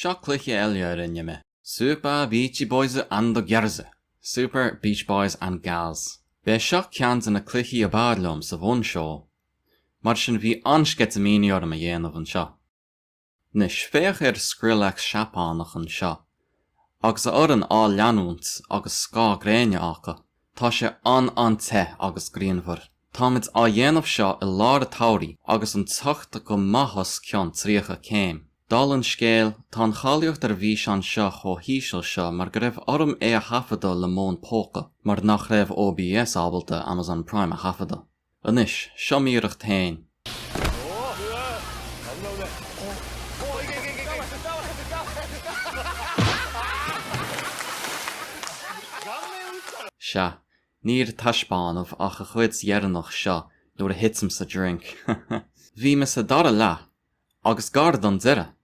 Seo cluiche eile a rinne mé. Super Beachy Boys and the Girls. Super Beach Boys and Gals. B'é seo ceann de na cluichí ab fhearr liom sa bhunseó. Mar sin bhí an-sceitimíní orm a dhéanamh anseo. Anois, féach ar Skrillex Seapánach anseo, agus a fhoireann á leanúint agus scáth gréine acu. Tá sé an-an-te agus grianmhar. Táimid á dhéanamh seo i lár a tsamhraidh agus an teocht go maith os cionn 30 céim. Dála an scéil, tá an cháilíocht ar an bhfíseán seo chomh híseal seo mar go raibh orm é a thaifeadadh le m'fhón póca mar nach raibh OBS ábalta Amazon Prime a thaifeadadh. Anois, seo m'iarracht fhéin. Sea, níor taispeánadh ach a chuid dheireanach seo nuair a thitim sa drink. Bhí mé sa dara leath, agus gar don deireadh,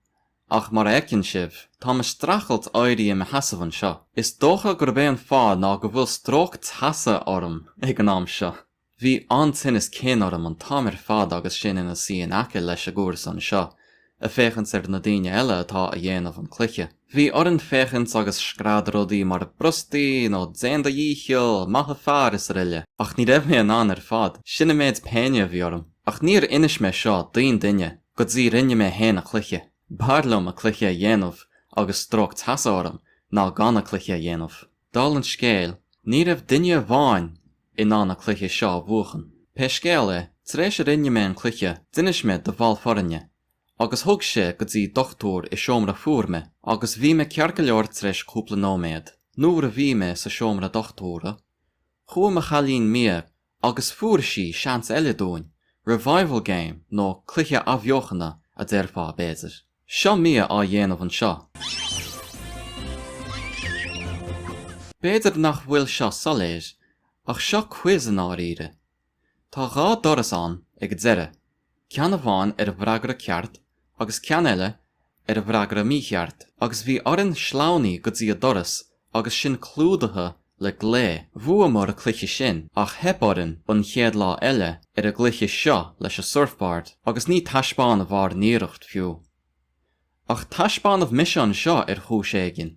Ach mar a fheiceann sibh, táim a streachailt éirí i mo sheasamh anseo. Is dócha gurb é an fáth ná go bhfuil stróc teasa orm ag an am seo. Bhí an-tinneas cinn orm an t-am ar fad agus sinn ina suí in aice leis a gcúrsa anseo, a féachaint ar na daoine eile atá a dhéanamh an cluiche. Bhí orainn féachaint agus screadadh rudaí mar brostaigh nó déan do dhícheall, maith an fear is araile. Ach ní raibh mé in ann ar fad, sin an méid péine a bhí orm. Ach níor inis mé seo d'aon duine Go dtí rinne mé fhéin a cluiche. B'fhearr liom a cluiche a dhéanamh agus stróc teasa orm ná gan a cluiche a dhéanamh. Dála an scéil, ní raibh duine amháin in ann a cluiche seo a bhuachan. Pé scéal é, tar éis a rinne mé an cluiche d'inis mé do bhall foirne agus thug sé go dtí dochtúir i seomra fuar mé agus bhí mé ceart go leor tar éis cúpla nóiméad. Nuair a bhí mé sa seomra dochtúra, chuaigh mo chailín Mia Agus fuair sí seans eile dúinn, revival game nó cluiche athbheochana a déarfá, b'fhéidir. Seo Mia á dhéanamh anseo. B'fhéidir nach bhfuil seo soiléir, ach seo quiz i ndáiríre. Tá dhá doras ann ag an deireadh. ceann amháin ar an bhfreagra ceart agus ceann eile ar an bhfreagra mícheart agus bhí orainn sleamhnú go dtí a doras agus sinn clúdaithe le glae. Bhuamar a cluiche sin ach theip orainn an chéad lá eile ar an gcluiche seo leis a surfboard agus níor taispeánadh ár n-iarracht fiú. Ach taispeánadh mise anseo ar chúis éigin.